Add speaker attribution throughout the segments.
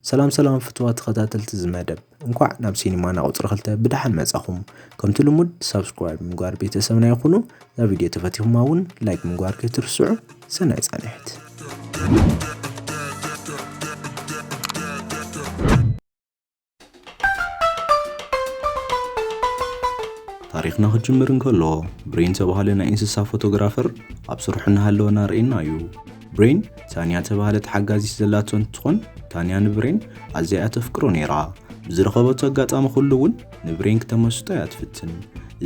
Speaker 1: ሰላም ሰላም ፍትዋት ተኸታተልቲ እዚ መደብ እንኳዕ ናብ ሲኒማና ቁፅሪ ክልተ ብደሓን መፃኹም ከምቲ ልሙድ ሳብስክራይብ ምግባር ቤተሰብና ይኹኑ እዛ ቪድዮ ተፈቲኹማ እውን ላይክ ምግባር ከይትርስዑ ሰናይ ፃንሒት ታሪኽና ክጅምር እንከሎ ብሬን ዝተባህለ ናይ እንስሳ ፎቶግራፈር ኣብ ስርሑ እናሃለወ እናርእየና እዩ ብሬን ታንያ ተባህለት ሓጋዚት ዘላቶ እንትኾን ታንያ ንብሬን ኣዝያ እያ ተፍቅሮ ነይራ። ብዝረኸበቶ ኣጋጣሚ ኩሉ እውን ንብሬን ክተመስጦ እያ ትፍትን።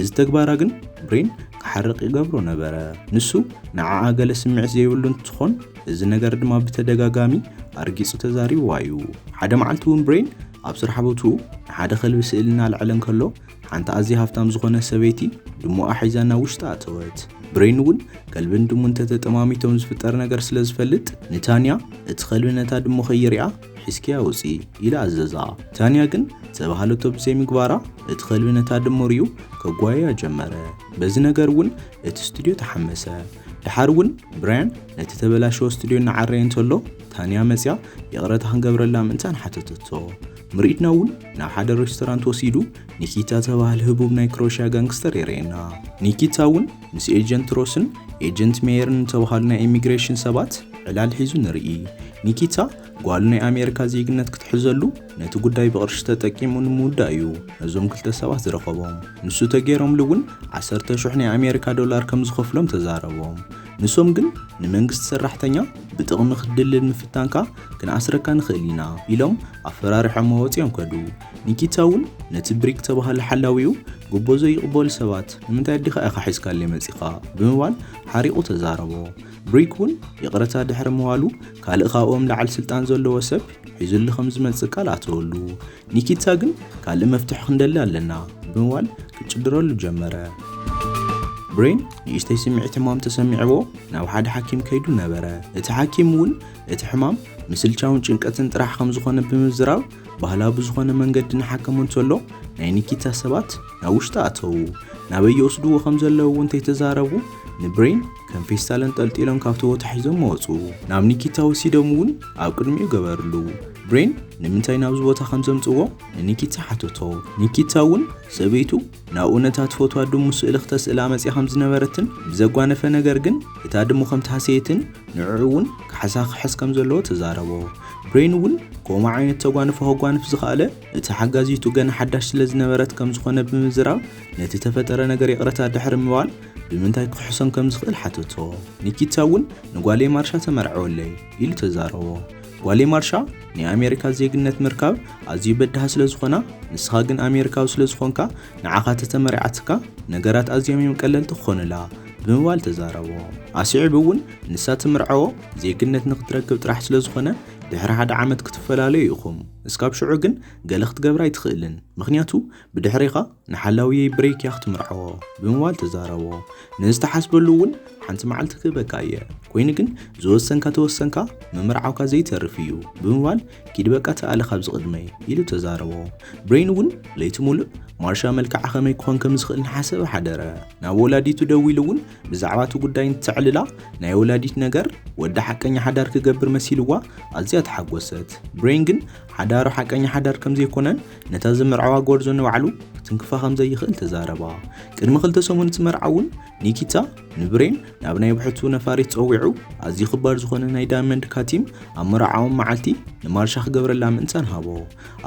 Speaker 1: እዚ ተግባራ ግን ብሬን ክሓርቕ ይገብሮ ነበረ። ንሱ ንዓኣ ገለ ስምዒት ዘይብሉ እንትኾን እዚ ነገር ድማ ብተደጋጋሚ ኣርጊጹ ተዛሪብዋ እዩ። ሓደ መዓልቲ እውን ብሬን ኣብ ስራሕ ቦትኡ ንሓደ ከልቢ ስእሊ እናልዐለ እንከሎ ሓንቲ ኣዝያ ሃብታም ዝኾነ ሰበይቲ ድሙኣ ሒዛ ናብ ውሽጢ ኣተወት። ብሬን እውን ከልብን ድሙን ተተጠማሚቶም ዝፍጠር ነገር ስለ ዝፈልጥ ንታንያ እቲ ከልቢ ነታ ድሙ ከይርያ ሒዝክያ ውፂ ኢላ ኣዘዛ። ታንያ ግን ዝተባህለቶ ብዘይምግባራ እቲ ከልቢ ነታ ድሙ ርዩ ከጓየያ ጀመረ። በዚ ነገር እውን እቲ ስቱድዮ ተሓመሰ። ድሓር እውን ብራያን ነቲ ተበላሸወ ስቱድዮ እናዓረየ እንተሎ ታንያ መፅያ ይቕረታ ክንገብረላ ምእንታን ሓተተቶ። ምርኢትና እውን ናብ ሓደ ሬስቶራንት ወሲዱ ኒኪታ ተባህል ህቡብ ናይ ክሮሽያ ጋንግስተር የርእየና። ኒኪታ እውን ምስ ኤጀንት ሮስን ኤጀንት ሜየርን ዝተባህሉ ናይ ኢሚግሬሽን ሰባት ዕላል ሒዙ ንርኢ። ኒኪታ ጓሉ ናይ ኣሜሪካ ዜግነት ክትሕዘሉ ነቲ ጉዳይ ብቕርሺ ተጠቂሙ ንምውዳእ እዩ ነዞም ክልተ ሰባት ዝረኸቦም። ንሱ ተገይሮምሉ እውን ዓሰርተ ሽሕ ናይ ኣሜሪካ ዶላር ከም ዝኸፍሎም ተዛረቦም። ንሶም ግን ንመንግስቲ ሰራሕተኛ ብጥቕሚ ክትድልል ምፍታንካ ክንኣስረካ ንኽእል ኢና ኢሎም ኣፈራሪሖሞ ወጺኦም ከዱ። ኒኪታ እውን ነቲ ብሪክ ዝተባህለ ሓላዊኡ ጉቦ ዘይቕበሉ ሰባት ንምንታይ ኣዴኻ ኢኻ ሒዝካለይ መጺኻ ብምባል ሓሪቑ ተዛረቦ። ብሪክ እውን ይቕረታ ድሕሪ ምባሉ ካልእ ካብኦም ላዕሊ ስልጣን ዘለዎ ሰብ ሒዙሉ ከም ዝመጽእ ቃል ኣተወሉ። ኒኪታ ግን ካልእ መፍትሒ ክንደሊ ኣለና ብምባል ክጭድረሉ ጀመረ። ብሬን ንእሽተይ ስምዒት ሕማም ተሰሚዕዎ ናብ ሓደ ሓኪም ከይዱ ነበረ። እቲ ሓኪም እውን እቲ ሕማም ምስልቻውን ጭንቀትን ጥራሕ ከም ዝኾነ ብምዝራብ ባህላ ብዝኾነ መንገዲ ንሓከሙ እንተሎ ናይ ኒኪታ ሰባት ናብ ውሽጢ ኣተዉ ናበይ ይወስድዎ ከም ዘለዉ እውን እንተይተዛረቡ ንብሬን ከም ፌስታል እንጠልጢሎም ካብቲ ቦታ ሒዞም መወፁ ናብ ኒኪታ ወሲዶም እውን ኣብ ቅድሚኡ ገበርሉ ብሬን ንምንታይ ናብዚ ቦታ ከም ዘምፅዎ ንኒኪታ ሓተቶ ኒኪታ እውን ሰበይቱ ናብኡ ነታ ትፈትዋ ድሙ ስእሊ ክተስእላ መጺኣ ከም ዝነበረትን ብዘጓነፈ ነገር ግን እታ ድሙ ከም ተሃሰየትን ንዕዑ እውን ካሕሳ ክሕስ ከም ዘለዎ ተዛረቦ። ብሬን እውን ከምኡ ዓይነት ተጓንፎ ከጓንፍ ዝኸኣለ እታ ሓጋዚቱ ገና ሓዳሽ ስለ ዝነበረት ከም ዝኾነ ብምዝራብ ነቲ ተፈጠረ ነገር ይቕረታ ድሕሪ ምባል ብምንታይ ክክሕሶም ከም ዝኽእል ሓተቶ። ኒኪታ እውን ንጓለይ ማርሻ ተመርዕወለይ ኢሉ ተዛረቦ። ጓሌ ማርሻ ናይ ኣሜሪካ ዜግነት ምርካብ ኣዝዩ በዳህ ስለ ዝኾና ንስኻ ግን ኣሜሪካዊ ስለ ዝኾንካ ንዓኻ ተተመሪዓትካ ነገራት ኣዝዮም እዮም ቀለልቲ ክኾኑላ ብምባል ተዛረቦ። ኣስዒቡ እውን ንሳ ትምርዐዎ ዜግነት ንክትረክብ ጥራሕ ስለ ዝኾነ ድሕሪ ሓደ ዓመት ክትፈላለዩ ኢኹም እስካብ ሽዑ ግን ገለ ክትገብር ኣይትኽእልን ምኽንያቱ ብድሕሪኻ ንሓላውየይ ብሬክያ ክትምርዓዎ ብምባል ተዛረቦ። ንዝተሓስበሉ እውን ሓንቲ መዓልቲ ክህበካ እየ፣ ኮይኑ ግን ዝወሰንካ ተወሰንካ ምምርዓውካ ዘይተርፍ እዩ ብምባል ኪድ በቃ ተኣለ ካብዚ ቅድመይ ኢሉ ተዛረቦ። ብሬን እውን ለይቲ ሙሉእ ማርሻ መልክዓ ከመይ ክኾን ከም ዝኽእል ንሓሰበ ሓደረ። ናብ ወላዲቱ ደዊሉ እውን ብዛዕባ እቲ ጉዳይ እንተዕልላ ናይ ወላዲት ነገር ወዳ ሓቀኛ ሓዳር ክገብር መሲልዋ ኣዝያ ተሓጎሰት። ብሬን ግን ሓዳሩ ሓቀኛ ሓዳር ከም ዘይኮነን ነታ ዝመርዓዋ ጎርዞ ንባዕሉ ክትንክፋ ከም ዘይኽእል ተዛረባ። ቅድሚ ክልተ ሰሙን እቲ መርዓ እውን ኒኪታ ንብሬን ናብ ናይ ብሕቱ ነፋሪት ጸዊዑ ኣዝዩ ክባር ዝኾነ ናይ ዳይመንድ ካቲም ኣብ መርዓኦም መዓልቲ ንማርሻ ክገብረላ ምእንታን ሃቦ።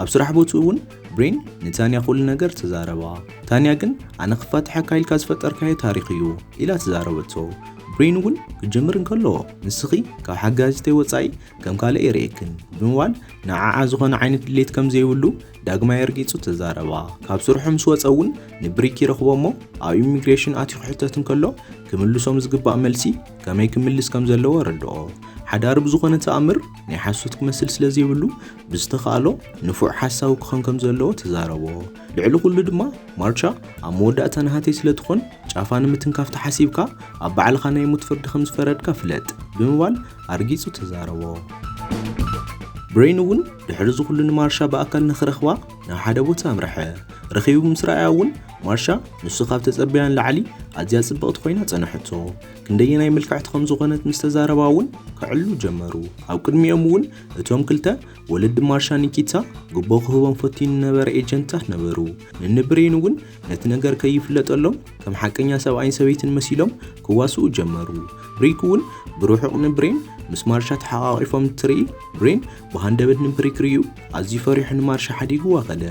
Speaker 1: ኣብ ስራሕ ቦትኡ እውን ብሬን ንታንያ ኩሉ ነገር ተዛረባ። ታንያ ግን ኣነ ክፋትሐካ ኢልካ ዝፈጠርካዮ ታሪኽ እዩ ኢላ ተዛረበቶ። ብሬን እውን ክጀምር እንከሎ ንስኺ ካብ ሓጋዚተይ ወጻኢ ከም ካልእ ይርእየክን ብምባል ንዓዓ ዝኾነ ዓይነት ድሌት ከም ዘይብሉ ዳግማይ ኣርጊጹ ተዛረባ። ካብ ስርሑ ምስ ወጸ እውን ንብሪክ ይረኽቦ እሞ ኣብ ኢሚግሬሽን ኣትዩ ክሕተት እንከሎ ክምልሶም ዝግባእ መልሲ ከመይ ክምልስ ከም ዘለዎ ኣረድኦ። ሓዳር ብዝኾነ ተኣምር ናይ ሓሶት ክመስል ስለ ዘይብሉ ብዝተኻእሎ ንፉዕ ሓሳዊ ክኾን ከም ዘለዎ ተዛረቦ። ልዕሊ ኩሉ ድማ ማርቻ ኣብ መወዳእታ ናሃተይ ስለ ትኾን ጫፋ ንምትንካፍ ተሓሲብካ ኣብ ባዕልኻ ናይ ሞት ፍርዲ ከም ዝፈረድካ ፍለጥ ብምባል ኣርጊጹ ተዛረቦ። ብሬን እውን ድሕሪ እዚ ኩሉ ንማርሻ ብኣካል ንኽረኽባ ናብ ሓደ ቦታ ኣምርሐ። ረኺቡ ምስ ረኣያ እውን ማርሻ ንሱ ካብ ተጸበያ ንላዕሊ ኣዝያ ጽብቕቲ ኮይና ጸንሐቶ። ክንደየናይ ምልክዕቲ ከም ዝኾነት ምስ ተዛረባ እውን ክዕልሉ ጀመሩ። ኣብ ቅድሚኦም እውን እቶም ክልተ ወለዲ ማርሻ ኒኪታ ጉቦ ክህቦም ፈትዩ ንነበረ ኤጀንትታት ነበሩ። ንንብሬን እውን ነቲ ነገር ከይፍለጠሎም ከም ሓቀኛ ሰብኣይን ሰበይትን መሲሎም ክዋስኡ ጀመሩ። ሪክ እውን ብርሑቕ ንብሬን ምስ ማርሻ ተሓቛቒፎም እንትርኢ ብሬን ብሃንደበት ንብሪክ ርዩ ኣዝዩ ፈሪሑ ንማርሻ ሓዲጉ ዋኸለ።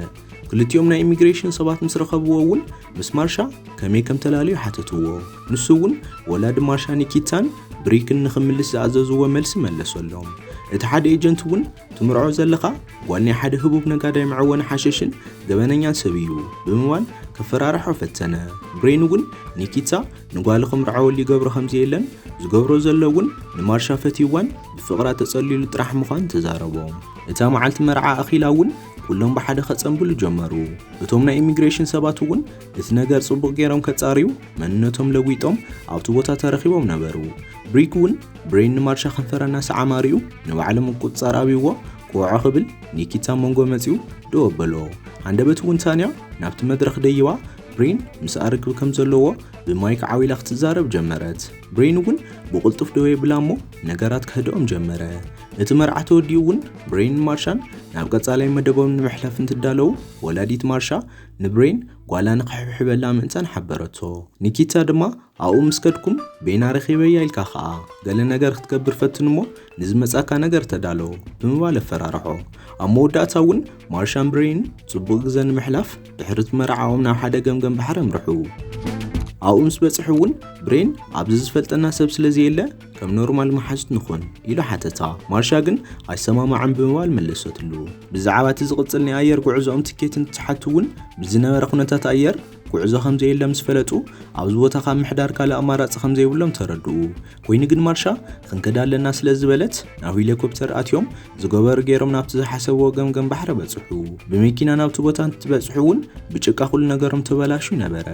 Speaker 1: ክልቲኦም ናይ ኢሚግሬሽን ሰባት ምስ ረኸብዎ እውን ምስ ማርሻ ከመይ ከም ተላለዩ ሓተትዎ። ንሱ እውን ወላዲ ማርሻ ኒኪታን ብሪክን ንኽምልስ ዝኣዘዝዎ መልሲ መለሰሎም። እቲ ሓደ ኤጀንት እውን ትምርዖ ዘለኻ ጓል ናይ ሓደ ህቡብ ነጋዳይ መዐወኒ ሓሸሽን ገበነኛን ሰብ እዩ ብምባል ከፈራርሖ ፈተነ። ብሬን እውን ኒኪታ ንጓሉ ክምርዓወሉ ይገብሮ ከም ዘየለን ዝገብሮ ዘሎ እውን ንማርሻ ፈትዩዋን ብፍቕራ ተጸልዩሉ ጥራሕ ምዃኑ ተዛረቦ። እታ መዓልቲ መርዓ ኣኺላ እውን ኩሎም ብሓደ ከጸንብሉ ጀመሩ። እቶም ናይ ኢሚግሬሽን ሰባት እውን እቲ ነገር ጽቡቕ ገይሮም ከጻርዩ መንነቶም ለጒጦም ኣብቲ ቦታ ተረኺቦም ነበሩ። ብሪክ እውን ብሬን ንማርሻ ከንፈራ እናሰዓማሪኡ ንባዕሊ ምቁፅፃር ኣብይዎ ክወዖ ክብል ኒኪታ ኣብ መንጎ መፂኡ ደው ኣበሎ ሃንደበት እውን ታንያ ናብቲ መድረኽ ደይባ ብሬን ምስኣ ርክብ ከም ዘለዎ ብማይክ ዓዊላ ክትዛረብ ጀመረት ብሬን እውን ብቕልጡፍ ደው የብላ እሞ ነገራት ከህድኦም ጀመረ እቲ መርዓ ተወዲኡ እውን ብሬን ማርሻን ናብ ቀጻላይ መደቦም ንምሕላፍ እንትዳለዉ ወላዲት ማርሻ ንብሬን ጓላ ንክሕብሕበላ ምእንታን ሓበረቶ ኒኪታ ድማ ኣብኡ ምስ ከድኩም በይና ረኺበያ ኢልካ ኸኣ ገለ ነገር ክትገብር ፈትን እሞ ንዝመጻካ ነገር ተዳሎ ብምባል ኣፈራርሖ። ኣብ መወዳእታ እውን ማርሻን ብሬይን ጽቡቕ ግዘ ንምሕላፍ ድሕሪ እቲ መርዓኦም ናብ ሓደ ገምገም ባሕሪ ኣምርሑ። ኣብኡ ምስ በጽሑ እውን ብሬን ኣብዚ ዝፈልጠና ሰብ ስለ ዘየለ ከም ኖርማል መሓዙት ንኹን ኢሉ ሓተታ። ማርሻ ግን ኣይሰማማዕን ብምባል መለሰትሉ። ብዛዕባ እቲ ዝቕጽል ናይ ኣየር ጉዕዞኦም ትኬት እንትትሓቱ እውን ብዝነበረ ኩነታት ኣየር ጉዕዞ ከም ዘየለ ምስ ፈለጡ ኣብዚ ቦታ ካብ ምሕዳር ካልእ ኣማራጺ ከም ዘይብሎም ተረድኡ። ኮይኑ ግን ማርሻ ክንከድ ኣለና ስለ ዝበለት ናብ ሄሊኮፕተር ኣትዮም ዝገበሩ ገይሮም ናብቲ ዝሓሰብዎ ገምገም ባሕሪ በጽሑ። ብመኪና ናብቲ ቦታ እንትበጽሑ እውን ብጭቃ ኩሉ ነገሮም ተበላሹ ነበረ።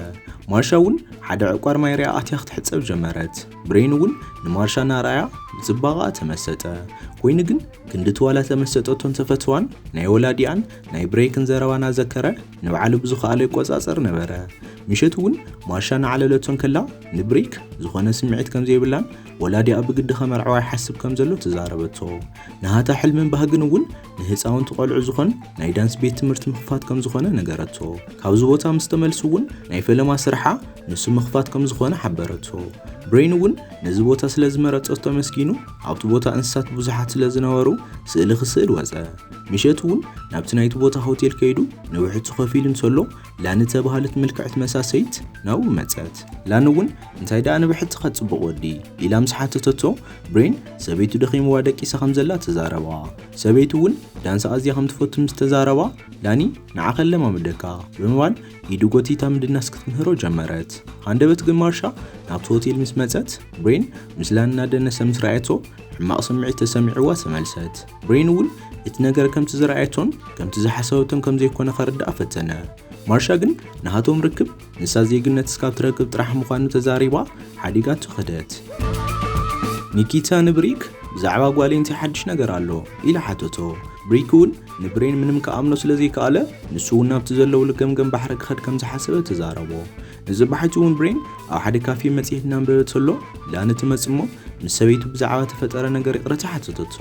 Speaker 1: ማርሻ እውን ሓደ ዕቋር ማይ ርኣ ኣትያ ክትሕጸብ ጀመረት። ብሬን እውን ንማርሻ እናርኣያ ብጽባቐኣ ተመሰጠ። ኮይኑ ግን ክንድቲ ዋላ ተመሰጠቶን ተፈትዋን ናይ ወላዲኣን ናይ ብሬክን ዘረባ ናዘከረ ንባዕሉ ብዝኸኣሎ ይቆጻጸር ነበረ። ምሸት እውን ማሻ ናዕለለቶ እንከላ ንብሬክ ዝኾነ ስምዒት ከም ዘይብላን ወላዲኣ ብግዲ ከመርዕዋ ይሓስብ ከም ዘሎ ተዛረበቶ። ንሃታ ሕልምን ባህግን እውን ንህፃውንቲ ቆልዑ ዝኾን ናይ ዳንስ ቤት ትምህርቲ ምኽፋት ከም ዝኾነ ነገረቶ። ካብዚ ቦታ ምስ ተመልሱ እውን ናይ ፈለማ ስርሓ ንሱ ምኽፋት ከም ዝኾነ ሓበረቶ። ብሬን እውን ነዚ ቦታ ስለ ዝመረጸቶ ኣመስጊኑ ኣብቲ ቦታ እንስሳት ብዙሓት ስለ ዝነበሩ ስእሊ ክስእል ወጸ። ምሸት እውን ናብቲ ናይቲ ቦታ ሆቴል ከይዱ ንውሕጅቱ ከፊሉ እንተሎ ላኒ እተባህለት ምልክዕቲ መሳሰይት ናብኡ መጸት። ላኒ እውን እንታይ ደኣ ንብሕቲ ከጽቡቕ ወዲ? ኢላ ምስ ሓተተቶ ብሬን ሰበይቱ ደኺምዋ ደቂሳ ከም ዘላ ተዛረባ። ሰበይቱ እውን ዳንስ ኣዝያ ከም ትፈቱ ምስ ተዛረባ ላኒ ንዓኸ ኣለማምደካ ብምባል ኢዱ ጎቲታ ምድናስ ክትምህሮ ጀመረት። ሃንደበት ግን ማርሻ ናብቲ ሆቴል ምስ መጸት ብሬን ምስላ እናደነሰ ምስ ረኣየቶ ሕማቕ ስምዒት ተሰሚዕዋ ተመልሰት። ብሬን እውን እቲ ነገር ከምቲ ዝረኣየቶን ከምቲ ዝሓሰበቶን ከም ዘይኮነ ከርድኣ ፈተነ። ማርሻ ግን ናሃቶም ርክብ ንሳ ዜግነት እስካብ ትረክብ ጥራሕ ምዃኑ ተዛሪባ ሓዲጋቶ ከደት። ኒኪታ ንብሪክ ብዛዕባ ጓለይ እንታይ ሓድሽ ነገር ኣሎ ኢላ ሓተቶ። ብሪክ እውን ንብሬን ምንም ክኣምኖ ስለ ዘይከኣለ ንሱ እውን ናብቲ ዘለውሉ ገምገም ባሕሪ ክኸድ ከም ዝሓሰበ ተዛረቦ እዚ ባሕቲ እውን ብሬን ኣብ ሓደ ካፌ መጽሔት እናንበበ ተሎ ላኒ ትመጽእ እሞ ምስ ሰበይቱ ብዛዕባ ተፈጠረ ነገር ይቕረታ ሓተተቶ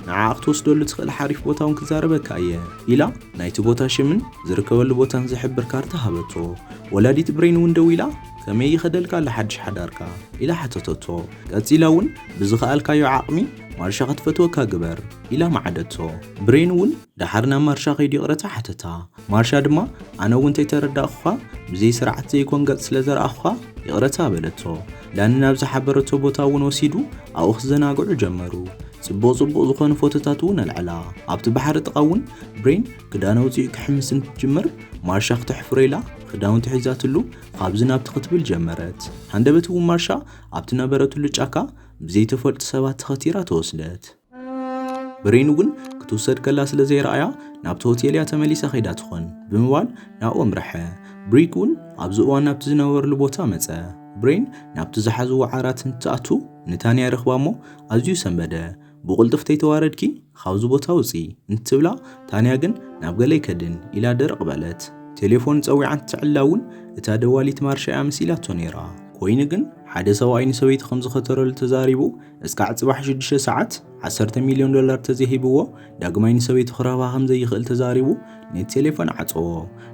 Speaker 1: ንዓኣ ክትወስደሉ ትኽእል ሓሪፍ ቦታ እውን ክዛረበካ እየ ኢላ ናይቲ ቦታ ሽምን ዝርከበሉ ቦታን ዝሕብር ካርታ ሃበቶ ወላዲት ብሬን እውን ደው ኢላ ከመይ ይኸደልካ ኣሎ ሓድሽ ሓዳርካ ኢላ ሓተተቶ ቀጺላ እውን ብዝኸኣልካዮ ዓቕሚ ማርሻ ክትፈትወካ ግበር ኢላ መዓደቶ። ብሬን እውን ደሓር ናብ ማርሻ ከይዱ ይቕረታ ሓተታ። ማርሻ ድማ ኣነ እውን እንተይተረዳእኹኻ ብዘይ ስርዓት ዘይኮን ገጽ ስለ ዘርኣኹኻ ይቕረታ በለቶ። ዳኒ ናብ ዝሓበረቶ ቦታ እውን ወሲዱ ኣብኡ ክዘናግዑ ጀመሩ። ጽቡቕ ጽቡቕ ዝኾኑ ፎቶታት እውን ኣልዐላ። ኣብቲ ባሕሪ ጥቓ እውን ብሬን ክዳን ኣውጺኡ ክሕምስ እንትጅምር ማርሻ ክተሕፍሮ ኢላ ክዳውንቲ ሒዛትሉ ካብዚ ናብቲ ክትብል ጀመረት። ሃንደበት እውን ማርሻ ኣብቲ ነበረትሉ ጫካ ብዘይተፈልጡ ሰባት ተኸቲራ ተወስደት። ብሬኑ ግን ክትውሰድ ከላ ስለ ዘይረኣያ ናብቲ ሆቴል እያ ተመሊሳ ከይዳ ትኾን ብምባል ናብኡ ኣምርሐ። ብሪክ እውን ኣብዚ እዋን ናብቲ ዝነበርሉ ቦታ መጸ። ብሬን ናብቲ ዝሓዝዎ ዓራት እንትትኣቱ ንታንያ ይረኽባ እሞ ኣዝዩ ሰንበደ። ብቑልጡፍ ተይተዋረድኪ? ኻብዚ ቦታ ውጺ እንትብላ፣ ታንያ ግን ናብ ገለ ኣይከድን ኢላ ድርቕ በለት። ቴሌፎን ጸዊዓ እንትትዕላ እውን እታ ደዋሊት ማርሻ እያ መሲላቶ ነይራ። ኮይኑ ግን ሓደ ሰብኣይ ንሰበይቲ ከም ዝኸተረሉ ተዛሪቡ እስካዕ ጽባሕ ሽዱሽተ ሰዓት ዓሰርተ ሚልዮን ዶላር ተዘይሂብዎ ዳግማይ ንሰበይቱ ክረኽባ ከም ዘይኽእል ተዛሪቡ ነቲ ቴሌፎን ዓጸዎ።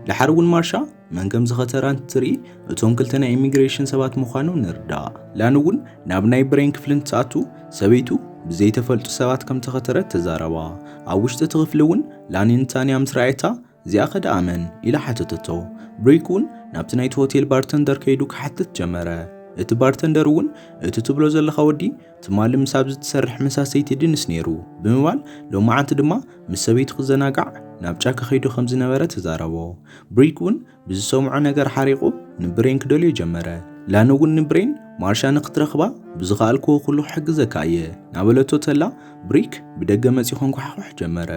Speaker 1: ደሓር እውን ማርሻ መን ከም ዝኸተራ እንትርኢ እቶም ክልተ ናይ ኢሚግሬሽን ሰባት ምዃኖም ንርዳእ። ላን እውን ናብ ናይ ብሬን ክፍሊ እንትኣቱ ሰበይቱ ብዘይተፈልጡ ሰባት ከም ተኸተረት ተዛረባ። ኣብ ውሽጢ እቲ ክፍሊ እውን ላኒን ታንያ ምስ ረኣየታ እዚኣ ከ ደኣ መን ኢላ ሓተተቶ። ብሪክ እውን ናብቲ ናይቲ ሆቴል ባርተንደር ከይዱ ክሓትት ጀመረ። እቲ ባርተንደር እውን እቲ ትብሎ ዘለኻ ወዲ ትማሊ ምስ ኣብዚ ትሰርሕ መሳሰይቲ ድንስ ነይሩ ብምባል ሎማዓንቲ ድማ ምስ ሰበይቱ ክዘናጋዕ ናብ ጫካ ከይዱ ከም ዝነበረ ተዛረቦ። ብሪክ እውን ብዝሰምዖ ነገር ሓሪቑ ንብሬን ክደልዮ ጀመረ። ላን እውን ንብሬን ማርሻ ንክትረኽባ ብዝኸኣልክዎ ኩሉ ክሕግዘካ እየ ናበለቶ ተላ ብሪክ ብደገ መፂኡ ከንኳሕኹሕ ጀመረ።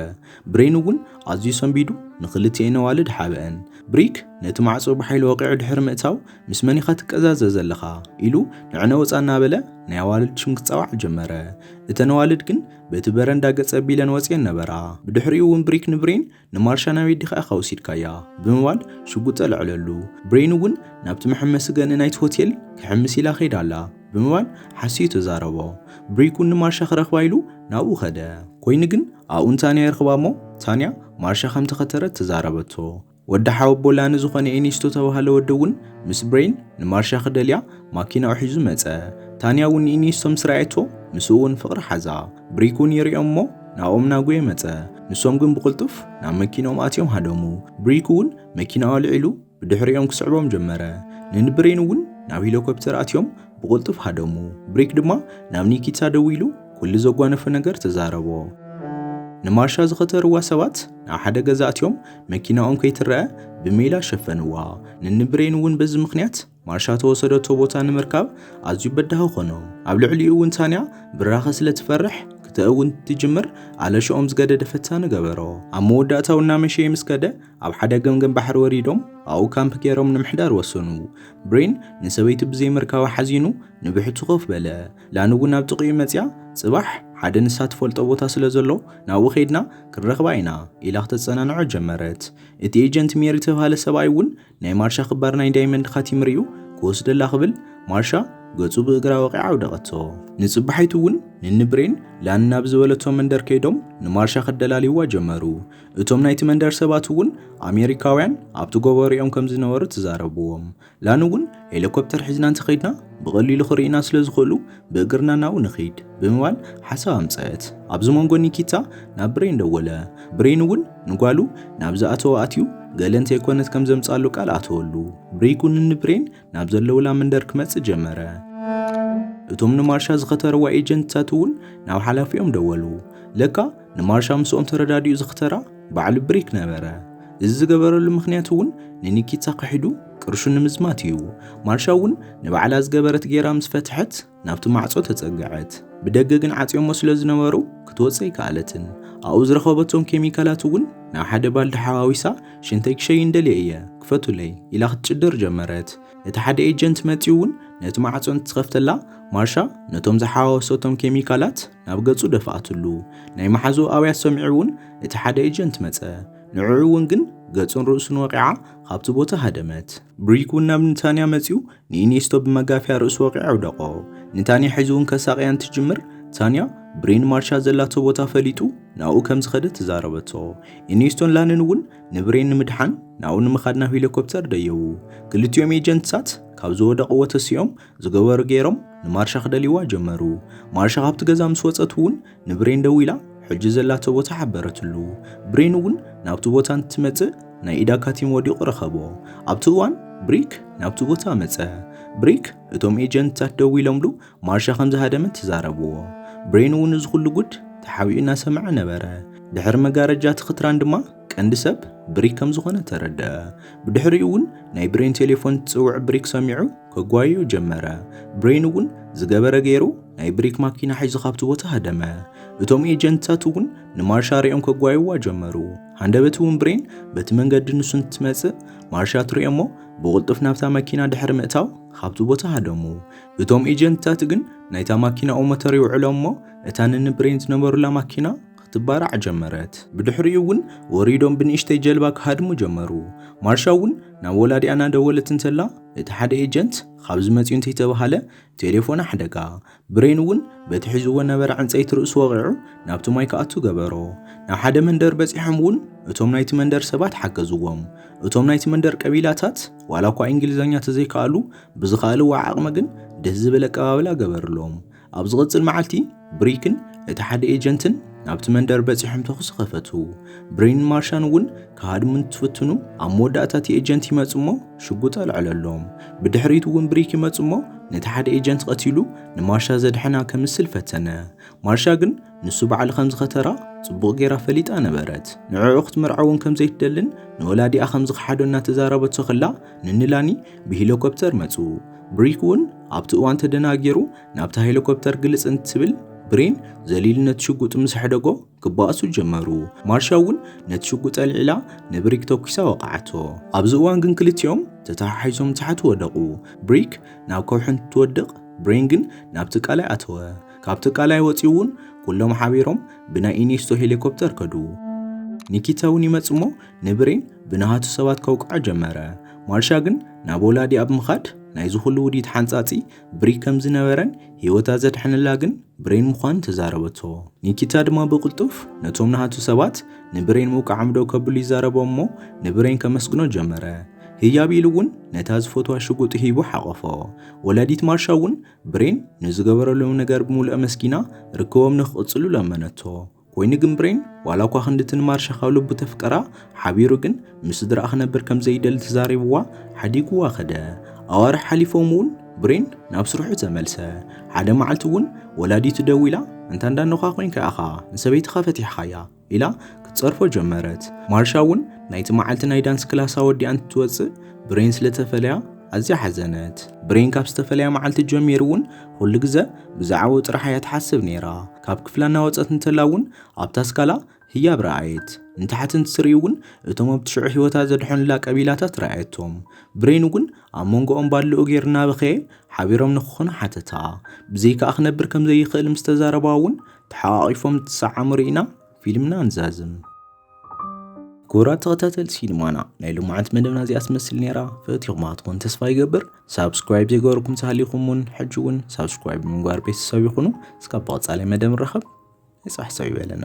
Speaker 1: ብሬን እውን ኣዝዩ ሰንቢዱ ንክልቲኤን ኣዋልድ ሓበአን። ብሪክ ነቲ ማዕፆ ብሓይሊ ወቒዑ ድሕሪ ምእታው ምስ መን ኢኻ ትቀዛዘ ዘለኻ ኢሉ ንዕነ ወፃ እናበለ ናይ ኣዋልድ ሽም ክፃዋዕ ጀመረ። እተን ኣዋልድ ግን በቲ በረንዳ ገፀ ኣቢለን ወፂኤን ነበራ። ብድሕሪኡ እውን ብሪክ ንብሬን ንማርሻ ናበይ ዲኻ ኢኻ ወሲድካያ ብምባል ሽጉጥ ኣልዐለሉ። ብሬን እውን ናብቲ መሐመሲ ገንኢ ናይቲ ሆቴል ክሕምስ ኢላ ከይዳ ኣላ ብምባል ሓሲዩ ተዛረቦ። ብሪክ እውን ንማርሻ ክረኽባ ኢሉ ናብኡ ከደ። ኮይኑ ግን ኣብኡ ንታንያ ይረኽባ እሞ ታንያ ማርሻ ከምተኸተረት ተዛረበቶ። ወዲ ሓወቦላ ንዝኾነ ኤኒስቶ ተባህለ ወዲ እውን ምስ ብሬን ንማርሻ ክደልያ ማኪናኡ ሒዙ መጸ። ታንያ እውን ንኢኒስቶ ምስ ረኣየቶ ምስኡ እውን ፍቕሪ ሓዛ። ብሪክ እውን ይርእዮም እሞ ናብኦም እናጎየ መጸ። ንሶም ግን ብቕልጡፍ ናብ መኪንኦም ኣትዮም ሃደሙ። ብሪክ እውን መኪናኡ ኣልዒሉ ብድሕሪኦም ክስዕቦም ጀመረ። ን ን ብሬን እውን ናብ ሂሎኮፕተር ኣትዮም ብቕልጡፍ ሃደሙ። ብሪክ ድማ ናብ ኒኪታ ደዊሉ ኩሉ ዘጓነፎ ነገር ተዛረቦ። ንማርሻ ዝኸተርዋ ሰባት ናብ ሓደ ገዛ ኣትዮም መኪናኦም ከይትረኣ ብሜላ ሸፈንዋ። ንንብሬን እውን በዚ ምኽንያት ማርሻ ተወሰደቶ ቦታ ንምርካብ ኣዝዩ በዳሂ ኾኖ። ኣብ ልዕሊኡ እውን ታንያ ብራኸ ስለ ትፈርሕ ክተእውን ትጅምር ኣለሽኦም ዝገደደ ፈታኒ ገበሮ። ኣብ መወዳእታኡ እናመሸየ ምስ ከደ ኣብ ሓደ ገምገም ባሕሪ ወሪዶም ኣብኡ ካምፕ ገይሮም ንምሕዳር ወሰኑ። ብሬን ንሰበይቱ ብዘይምርካባ ሓዚኑ ንብሕቱ ኮፍ በለ። ላን እውን ናብ ጥቕኡ መጺኣ ጽባሕ ሓደ ንሳ ትፈልጦ ቦታ ስለ ዘሎ ናብኡ ከይድና ክንረኽባ ኢና ኢላ ክተጸናንዖ ጀመረት። እቲ ኤጀንት ሜሪ ዝተባህለ ሰብኣይ እውን ናይ ማርሻ ክባር ናይ ዳይመንድ ካቲም ርእዩ ክወስደላ ክብል ማርሻ ገጹ ብእግራ ወቒዓ ኣውደቐቶ። ንጽባሒቱ እውን ንኒ ብሬን ላን ናብ ዝበለቶ መንደር ከይዶም ንማርሻ ከደላልይዋ ጀመሩ። እቶም ናይቲ መንደር ሰባት እውን ኣሜሪካውያን ኣብቲ ጎቦ ርእዮም ከም ዝነበሩ ተዛረብዎም። ላን እውን ሄሊኮፕተር ሒዝና እንተኸይድና ብቐሊሉ ክርእዩና ስለ ዝኽእሉ ብእግርና ናብኡ ንኺድ ብምባል ሓሳብ ኣምፀት። ኣብዚ መንጎ ኒኪታ ናብ ብሬን ደወለ። ብሬን እውን ንጓሉ ናብ ዝኣተወ ኣትዩ ገለ እንተይኮነት ከም ዘምፅኣሉ ቃል ኣተወሉ። ብሬክ እውን ንብሬን ናብ ዘለውላ መንደር ክመፅእ ጀመረ። እቶም ንማርሻ ዝኸተርዋ ኤጀንትታት እውን ናብ ሓላፊኦም ደወሉ። ለካ ንማርሻ ምስኦም ተረዳዲኡ ዝኽተራ ባዕሉ ብሪክ ነበረ። እዚ ዝገበረሉ ምኽንያት እውን ንኒኪታ ክሒዱ ቅርሹ ንምዝማት እዩ። ማርሻ እውን ንባዕላ ዝገበረት ጌራ ምስ ፈትሐት ናብቲ ማዕጾ ተጸገዐት። ብደገ ግን ዓጽዮሞ ስለ ዝነበሩ ክትወጽእ ኣይከኣለትን። ኣብኡ ዝረኸበቶም ኬሚካላት እውን ናብ ሓደ ባልዲ ሓዋዊሳ ሽንተይ ክሸይን ደልየ እየ ክፈቱለይ ኢላ ክትጭድር ጀመረት። እቲ ሓደ ኤጀንት መጺኡ እውን ነቲ ማዕጾ እንትኸፍተላ ማርሻ ነቶም ዝሓዋወሰቶም ኬሚካላት ናብ ገጹ ደፋኣትሉ። ናይ መሓዝኡ ኣውያት ሰሚዑ እውን እቲ ሓደ ኤጀንት መጸ። ንዕዑ እውን ግን ገጹን ርእሱን ወቒዓ ካብቲ ቦታ ሃደመት። ብሪክ እውን ናብ ንታንያ መጺኡ ንኢኔስቶ ብመጋፍያ ርእሱ ወቒዑ ኣውደቖ። ንታንያ ሒዙ እውን ከሳቕያ እንትጅምር፣ ታንያ ብሬን ማርሻ ዘላቶ ቦታ ፈሊጡ ናብኡ ከም ዝኸደ ተዛረበቶ። ኢኔስቶን ላንን እውን ንብሬን ንምድሓን ናብኡ ንምኻድ ናብ ሄሊኮፕተር ደየቡ። ክልቲኦም ኤጀንትታት ካብ ዝወደቕዎ ተሲኦም ዝገበሩ ገይሮም ንማርሻ ክደልይዋ ጀመሩ። ማርሻ ካብቲ ገዛ ምስ ወጸት እውን ንብሬን ደዊላ ሕጂ ዘላቶ ቦታ ሓበረትሉ። ብሬን እውን ናብቲ ቦታ እንትመጽእ ናይ ኢዳ ካቲም ወዲቑ ረኸቦ። ኣብቲ እዋን ብሪክ ናብቲ ቦታ መጸ። ብሪክ እቶም ኤጀንትታት ደዊሎምሉ ማርሻ ከም ዝሃደመት ተዛረብዎ። ብሬን እውን እዚ ኩሉ ጉድ ተሓቢኡ እናሰምዐ ነበረ። ድሕሪ መጋረጃ እቲ ክትራን ድማ ቀንዲ ሰብ ብሪክ ከም ዝኾነ ተረድኣ። ብድሕሪኡ እውን ናይ ብሬን ቴሌፎን ትጽውዕ ብሪክ ሰሚዑ ከጓይዩ ጀመረ። ብሬን እውን ዝገበረ ገይሩ ናይ ብሪክ ማኪና ሒዙ ካብቲ ቦታ ሃደመ። እቶም ኤጀንትታት እውን ንማርሻ ሪኦም ከጓይዋ ጀመሩ። ሃንደበት እውን ብሬን በቲ መንገዲ ንሱ እንትመጽእ ማርሻ ትሪኦ እሞ ብቕልጡፍ ናብታ መኪና ድሕሪ ምእታው ካብቲ ቦታ ሃደሙ። እቶም ኤጀንትታት ግን ናይታ ማኪናኡ ሞተር ይውዕሎም እሞ እታ ንንብሬን ዝነበሩላ ማኪና ክትባራዕ ጀመረት። ብድሕሪኡ እውን ወሪዶም ብንእሽተይ ጀልባ ክሃድሙ ጀመሩ። ማርሻ እውን ናብ ወላዲኣ እናደወለት እንተላ እቲ ሓደ ኤጀንት ካብዚ መፂኡ እንተይተባሃለ ቴሌፎን ኣሕደጋ። ብሬን እውን በቲ ሒዝዎ ነበረ ዕንፀይቲ ርእሱ ወቒዑ ናብቲ ማይ ክኣቱ ገበሮ። ናብ ሓደ መንደር በፂሖም እውን እቶም ናይቲ መንደር ሰባት ሓገዝዎም። እቶም ናይቲ መንደር ቀቢላታት ዋላ እኳ ኢንግሊዘኛ ተዘይከኣሉ ብዝኸኣልዎ ዓቕሚ ግን ደስ ዝብል ኣቀባብላ ገበርሎም። ኣብ ዝቕጽል መዓልቲ ብሪክን እቲ ሓደ ኤጀንትን ናብቲ መንደር በጺሖም ተኹሲ ኸፈቱ። ብሪን ማርሻን እውን ክሃድሙ እንትፍትኑ ኣብ መወዳእታ እቲ ኤጀንት ይመጽ እሞ ሽጉጥ ኣልዕለሎም። ብድሕሪት እውን ብሪክ ይመጽ እሞ ነቲ ሓደ ኤጀንት ቐቲሉ ንማርሻ ዘድሐና ከምስል ፈተነ። ማርሻ ግን ንሱ በዓል ከም ዝኸተራ ጽቡቕ ጌራ ፈሊጣ ነበረት። ንዕዑ ክትምርዓውን ከም ዘይትደልን ንወላዲኣ ከም ዝኸሓዶ እናተዛረበቶ ከላ ንንላኒ ብሂሎኮፕተር መጹ። ብሪክ እውን ኣብቲ እዋን ተደናጊሩ ናብታ ሄሊኮፕተር ግልጽ እንትብል ብሬን ዘሊሉ ነቲ ሽጉጥ ምስ ኣሕደጎ ክበኣሱ ጀመሩ። ማርሻ እውን ነቲ ሽጉጥ ኣልዒላ ንብሪክ ተኲሳ ወቕዓቶ። ኣብዚ እዋን ግን ክልቲኦም ተተሓሒዞም ንታሕቲ ወደቑ። ብሪክ ናብ ከውሒ እንትወድቕ ብሬን ግን ናብቲ ቀላይ ኣተወ። ካብቲ ቀላይ ወጺኡ እውን ኩሎም ሓቢሮም ብናይ ኢኔስቶ ሄሊኮፕተር ከዱ። ኒኪታ እውን ይመጽእ'ሞ ንብሬን ብናሃቱ ሰባት ከውቅዖ ጀመረ። ማርሻ ግን ናብ ወላዲ ኣብ ምኻድ ናይ ዝኹሉ ውዲት ሓንጻጺ ብሪ ከም ዝነበረን ህይወታ ዘድሐነላ ግን ብሬን ምዃኑ ተዛረበቶ። ኒኪታ ድማ ብቕልጡፍ ነቶም ናሃቱ ሰባት ንብሬን ምውቃዖም ደው ከብሉ ይዛረቦም እሞ ንብሬን ከመስግኖ ጀመረ። ህያብ ኢሉ እውን ነታ ዝፈትዋ ሽጉጡ ሂቡ ሓቖፎ። ወላዲት ማርሻ እውን ብሬን ንዝገበረሎም ነገር ብምሉእ ኣመስጊና ርክቦም ንክቕጽሉ ለመነቶ። ኮይኑ ግን ብሬን ዋላ እኳ ክንድቲ ንማርሻ ካብ ልቡ ተፍቀራ ሓቢሩ ግን ምስ ስድራኣ ክነብር ከም ዘይደሊ ተዛሪብዋ ሓዲግዋ ከደ። ኣዋርሕ ሓሊፎም እውን ብሬን ናብ ስርሑ ተመልሰ። ሓደ መዓልቲ እውን ወላዲቱ ደዊላ እንታ እንዳ ኖኻ ኮይንካ ኢኻ ንሰበይትኻ ፈቲሕኻያ ኢላ ክትጸርፎ ጀመረት። ማርሻ እውን ናይቲ መዓልቲ ናይ ዳንስ ክላሳ ወዲኣ እንትትወጽእ ብሬን ስለተፈለያ ኣዝያ ሓዘነት። ብሬን ካብ ዝተፈለያ መዓልቲ ጀሚሩ እውን ኩሉ ግዘ ብዛዕባኡ ጥራሕ እያ ትሓስብ ነይራ። ካብ ክፍላ እናወፀት እንተላ እውን ኣብታ ኣስካላ ህያብ ረኣየት። ንታሕቲ እንትትርኢ እውን እቶም ኣብቲ ሽዑ ህይወታ ዘድሐኑላ ቀቢላታት ረኣየቶም። ብሬን እውን ኣብ መንጎኦም ባልኡ ጌር እናበኸየ ሓቢሮም ንክኾኑ ሓተታ። ብዘይካኣ ክነብር ከም ዘይኽእል ምስ ተዛረባ እውን ተሓቛቒፎም እንትሰዓሙ ርኢና ፊልምና ንዛዝም። ክቡራት ተኸታተልቲ ሲኒማና ናይ ልሙዓት መደብና እዚኣ ትመስል ነይራ ፈቲኹማ ትኾን ተስፋ ይገብር ሳብስክራይብ ዘይገበርኩም ተሃሊኹም እውን ሕጂ እውን ሳብስክራይብ ብምግባር ቤተሰብ ይኹኑ እስካብ ብቐፃላይ መደብ ንራኸብ ናይ ፅባሕ ሰብ ይበለና